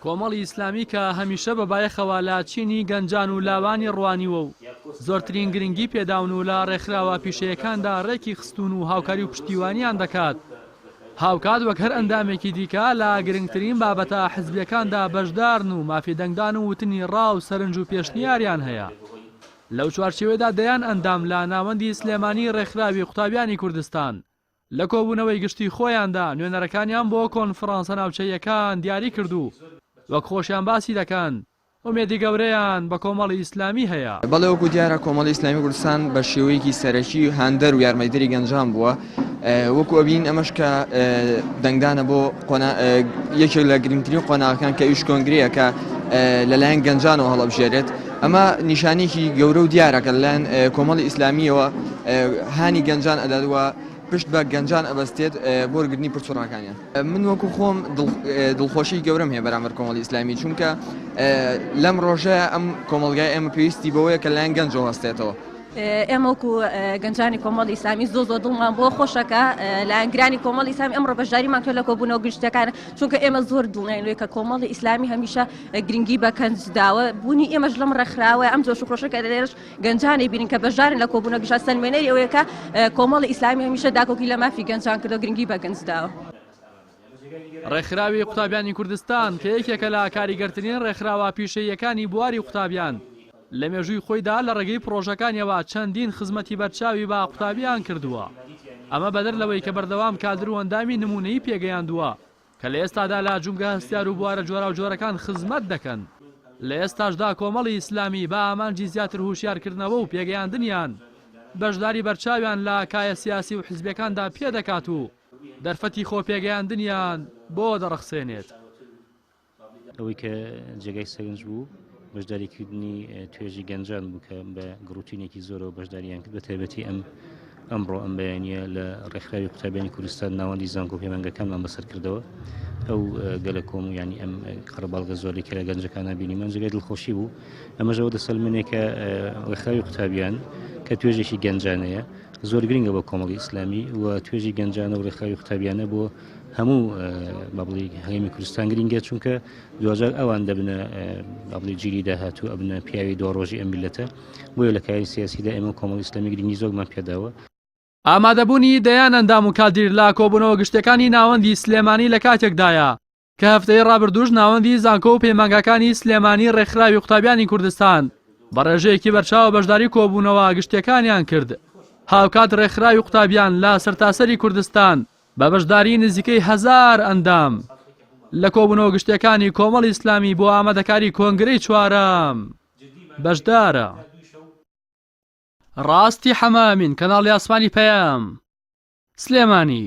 کۆمەڵی ئیسلامی کە هەمیشە بە بایەخەوە لە چینی گەنجان و لاوانی ڕوانیوە و زۆرترین گرنگی پێداون و لە ڕێکخراوە پیشەیەکاندا ڕێکی خستوون و هاوکاری و پشتیوانیان دەکات، هاوکات وەک هەر ئەندامێکی دیکە لە گرنگترین بابەتە حزبییەکاندا بەشدارن و مافی دەنگدان و وتنی ڕا و سەرنج و پێشنیاریان هەیە. لەو چوارچێوەیەدا دەیان ئەندام لە ناوەندی سلێمانی ڕێکخراوی قوتابیانی کوردستان لە کۆبوونەوەی گشتی خۆیاندا نوێنەرەکانیان بۆ کۆنفڕانسە ناوچەییەکان دیاری کرد و وەک خۆشیان باسی دەکەن، ئومێدی گەورەیان بە کۆمەڵی ئیسلامی هەیە. بەڵێ وەکو دیارە کۆمەڵی ئیسلامی کوردستان بە شێوەیەکی سەرەکی هاندەر و یارمەتیدەری گەنجان بووە وەکو ئەبینین ئەمەش کە دەنگدانە بۆ یەکێک لە گرنگترین قۆناغەکان کە ئیش کۆنگرەیە کە لەلایەن گەنجانەوە هەڵەبژێرێت. ئەمە نیشانەیەکی گەورە و دیارە کە لەلایەن کۆمەڵی ئیسلامییەوە هانی گەنجان ئەدات و پشت بە گەنجان ئەبەستێت بۆ وەرگرتنی پرسوڕاکانیان. من وەکو خۆم دڵخۆشیی گەورەم هەیە بەرامبەر کۆمەڵی ئیسلامی، چونکە لەم ڕۆژەیا ئەم کۆمەڵگای ئێمە پێویستی بەوەیە کە لەلایەن گەنجەوە هەستێتەوە. ئێمە وەکو گەنجانی کۆمەڵی ئیسلامی زۆر زۆر دڵمان بۆ خۆشە کە لایەنگرانی کۆمەڵی ئیسلامی ئەمڕۆ بەشداریمان کرد لە کۆبوونەوە گشتییەکان، چونکە ئێمە زۆر دڵنیاین لەوەی کە کۆمەڵی ئیسلامی هەمیشە گرنگی بە کەنج داوە، بوونی ئێمەش لەم ڕێکخراوەیە، ئەم جۆش و خرۆشە کە لێرەش گەنجان ئەیبینین کە بەشدارن لە کۆبوونەکەش ئەستەنمێنەری ئەوەیە کە کۆمەڵی ئیسلامی هەمیشە داکۆکی لە مافی گەنجان کردووە، گرنگی بە گەنج داوە. ڕێکخراوی قوتابیانی کوردستان کە یەکێکە لە کاریگەرترین ڕێکخراوە پیشەییەکانی بواری قوتابیان، لە مێژووی خۆیدا لە ڕێگەی پڕۆژەکانیەوە چەندین خزمەتی بەرچاوی بە قوتابیان کردووە، ئەمە بەدەر لەوەی کە بەردەوام کادر و ئەندامی نموونەیی پێگەیاندووە. کە لە ئێستادا لە جومگە هەستیار و بوارە جۆراوجۆرەکان خزمەت دەکەن. لە ئێستاشدا کۆمەڵی ئیسلامی بە ئامانجی زیاتر هوشیارکردنەوە و پێگەیاندنیان، بەشداری بەرچاویان لە کایە سیاسی و حزبیەکاندا پێدەکات و دەرفەتی خۆ پێگەیاندنیان بۆ دەڕەخسێنێت. ئەوەی کە جێگای سەرنج بوو، بەشداریکردنی توێژی گەنجان بوو کە بە گڕوتینێکی زۆرەوە بەشداریان کرد بە تایبەتی ئەم ئەمڕۆ ئەم بەیانە لە ڕێکخراوی قوتابیانی کوردستان ناوەندی زانکۆ پەیمانگەکانمان بەسەر کردەوە ئەو گەلە کۆم و ینی ئەم قەرباڵگە زۆری کە لە گەنجەکانە بینی من جگەی دڵخۆشی بوو ئەمەژەوە دەسەلمنێکە ڕێکخراوی قوتابیان کە توێژێکی گەنجانەیە زۆر گرنگە بۆ کۆمەڵی ئیسلامی و توێژی گەنجانە و ڕێکخراوی قوتابیانە بۆ هەموو بەڵی هەیمی کوردستان گرنگە چونکە دوجار ئەوان دەبنە ئەڵی جیلی داهاتوو ئەبنە پیاوی دو ڕۆژی ئەم میلەتە بۆیە لە کاری سیاسیدا ئێمە کۆمەڵ ئیسلامی گرنگی زۆرمان پێداوە ئامادەبوونی دەیان ئەندام و کادیر لە کۆبوونەوە گشتیەکانی ناوەندی سلێمانی لە کاتێکدایە کە هەفتەی ڕابردووش ناوەندی زانکۆ و پەیمانگاکانی سلێمانی ڕێکخراوی قوتابیانی کوردستان بە ڕێژەیەکی بەرچاوە بەشداری کۆبوونەوە گشتیەکانیان کرد هاوکات ڕێکخراوی قوتابیان لە سەرتاسەری کوردستان بە بەشداریی نزیکەی هەزار ئەندام لە کۆبوونەوە گشتییەکانی کۆمەڵی ئیسلامی بۆ ئامادەکاریی کۆنگرەی چوارەم بەشدارە. ڕاستی حەمە ئەمین، کەناڵی ئاسمانی پەیام، سلێمانی.